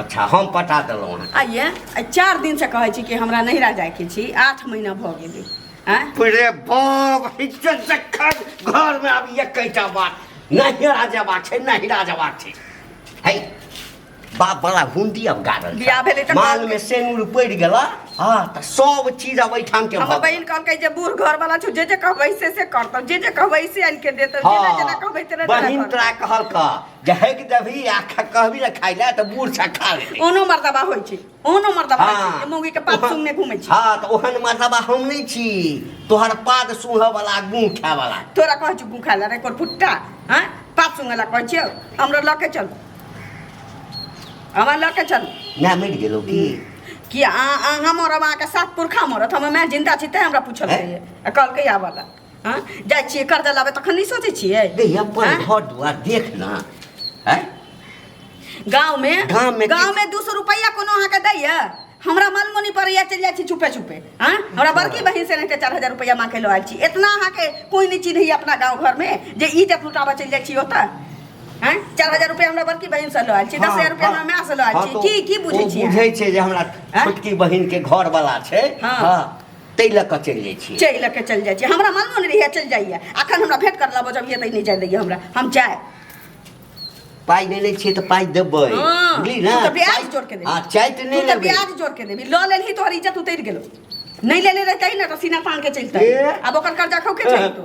अच्छा हम पटा देलहुँ अहाँके आइए आ चारि दिनसँ कहै छी कि हमरा नहिरा जाइके छी आठ महीना भऽ गेलै आँय पूरे बाप हिजके जखन घरमे आब एकैटा बात नहिरा जयबाक छै नहिरा जयबाक छै है बाप बड़ा हुंडी अब गाड़ल बियाह भेलै तऽ माल मे सेनुर पड़ि गेला हाँ तऽ सब चीज अब एहिठाम के हमर भऽ बहिन कहलकै जे बूढ़ घरवाला छौ जे जे कहबै से से करतौ जे जे कहबै से आनि के देतौ जेना जेना कहबै तेना तेना बहिन करतौ। तोरा कहलका जहक देबही आ खा- कहबी ने खाइ लए तऽ बूढ़ छा खा लेतै ओनो मर्दबा होइ छै ओनो मर्दबा होइ छै जे मौगी के पात ओहन- सुनने घूमे छी हाँ तऽ ओहन मर्दबा हम नहि छी तोहर पाद सूंघऽ वाला गुँ खाय वाला तोरा कहै छी गुखा ला रे कोर फुट्टा हाँ पात सुंगे ला कहै छियो हमरा लऽ के चल हमरा लऽ के चल ना मरि गेलौ की कि आ आ हमर अब अहाँके सात पुरखा मरत हम मैं जिंदा छी तैं हमरा पूछल हँ? रहिए आ कहलकै आबऽ ला हँ जाइ छियै कर्जा लाबे तखन नहि सोचै छियै दे अपन आँय? घर दुआर देख ना हैं गाँव में गाँव में गाँव की- में दू सौ रुपया कोनो अहाँके दैया हमरा मन मोनी पड़ैया चलि जाइ छी चुपे चुपे हाँ हमरा बड़की बहिन से लेके चार हजार रुपया मांगे लो आयल छी इतना अहाँके कोई नहीं चीज है अपना गाँव घर में जे ई जब लुटाबा चलि जाइ छी ओतऽ हाँ चार हजार रुपया हमरा बड़की बहिन से लो आयल छी दस हजार रुपया हमरा माँ से लो आयल छी की की बुझै छी अहाँ? बुझै छै जे हमरा हाँ? छोटकी बहिन के घर वाला छै हाँ। हाँ ताहि लऽ कऽ चलि जाइ छी चलि लऽ कऽ चलि जाइ छी हमरा मालूम नहि रहैए चलि जाइए एखन हमरा भेट कर लेबो जब ये नहि जाए दैए हमरा हम जाए पाइ नहि लै छियै तऽ पाइ देबै हाँ, बुझली ना तू तो ब्याज चाय- जोड़ के दे। हाँ, चाय तऽ नहि तू तऽ लेबै ब्याज जोड़ के देबी लऽ लेलही तोहर इज्जत उतरि गेलो नहि लेले रहते ना तो सीना तान के चलते ए। अब ओकर कर्जा खौके चाहिए तो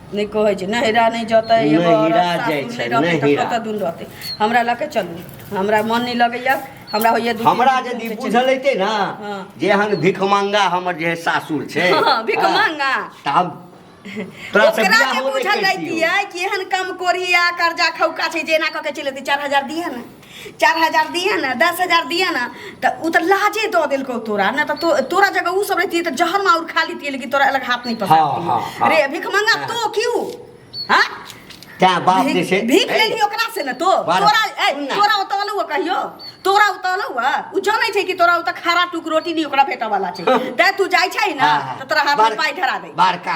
नहि कहै छै नहिरा नहि जतै एगो नहिरा औरत जाइ सासुर छै, नहि रहतै तऽ नहिरा। कतऽ दून रहतै हमरा लऽ कऽ चलू हमरा मन नहि लगैया हमरा होइया दू तीन हमरा दिन यदि घुमि कऽ चलि बुझल अयतै ने हँ। जे एहन भिखमंगा हमर जे है सासुर छै हँ, भिखमंगा। हँ, तऽ हम तोरा से ओकरा बियाह जे होबे बुझल करितियौ। रहितियै कि एहन कम कोरिया कर्जा खौका छै जे एना कऽ के चलि एतै चारि हजार दिहे ने चार हजार दिए ने दस हजार दिए ने तऽ ओ तऽ लाजे दऽ देलकौ तोरा ने तऽ तो- तोरा जगह ओ सब रहती तऽ जहर माउर खा लेती लेकिन तोरा अलग हाथ नहीं हाँ, हाँ, पकड़ती हाँ। रे भीख मंगा तो क्यों हाँ तैं बाप जे छै भीख भीख लेली ओकरा से ने तो बारह। तोरा ए सुन ना। तोरा उतल हुआ कहियो तोरा उतल हुआ उ जानै छै कि तोरा उतऽ खारा टुक रोटी नहीं ओकरा भेटऽ वाला छै तै तू जाइ छै ना तऽ तोरा हाथ में पाई धरा दे बड़का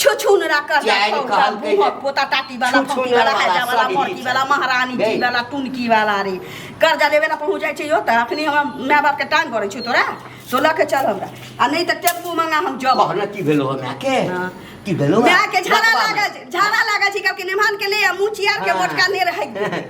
छुछुनरा कह जाय जाय कहल कहल कहिए। पोता टाटी वाला छुछुनरा फौकी वाला वाला, हैजा वाला सब मोरकी इहे वाला छै। महारानी जी गई। वाला टुनकी वाला रे कर्जा लेबे ला पहुंच जाइ छै यो त अखनी हम माय बाप के टांग करै छौ तोरा तो लऽ के चल हमरा आ नहि त टेम्पू मंगा हम जब कहना की भेलो हो माय के हाँ। की भेलो माय के झाड़ा लागल छै, झाड़ा लागल छै कहलकै निमान के ले आ मुँह चियार के हाँ। मोटका ने रहै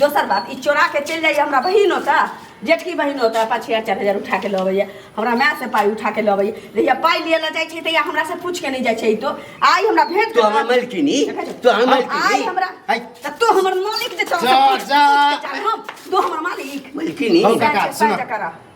दोसर बात ई चोरा के चलि जाइए हमरा बहिन ओतऽ जेठकी बहिन ओतऽ पाँच हजार चारि हजार उठा के लऽ अबैए हमरा माय से पाइ उठा के लऽ अबैए जहिया पाइ लिए लऽ जाइ छै तहिया हमरा से पूछ के नहि जाइ छै ई तो आइ हमरा भेंट तो हमरा मलकिनी तो हमरा आइ मलकिनी हमरा हाय, तऽ तू हमर मालिक जे छौ जा, पूछ- पूछ जा। के चल, हम तू हमर मालिक मलकिनी हौ, काका, बात सुनऽ। बात करऽ।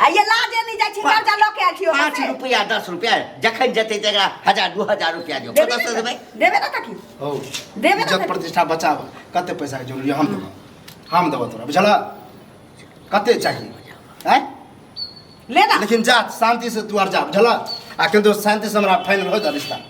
आ ये लाजे नहीं जाय छी पाँच- कर्जा लऽ के आयल छियो पाँच रुपया दस रुपया जखन जेतै तऽ एकरा हजार दू हजार रुपया जो देबे कतऽसँ देबै ना देबे ना तकी हौ देबे ना इज्जत तकी प्रतिष्ठा बचाब कते पैसा के जरूरी हम देबौ हम देबौ तोरा बुझल कते चाहिए हैं ले ना लेकिन जा शांति से तू आर जा बुझल आ किंतु शांति से हमरा फाइनल हो जा रिश्ता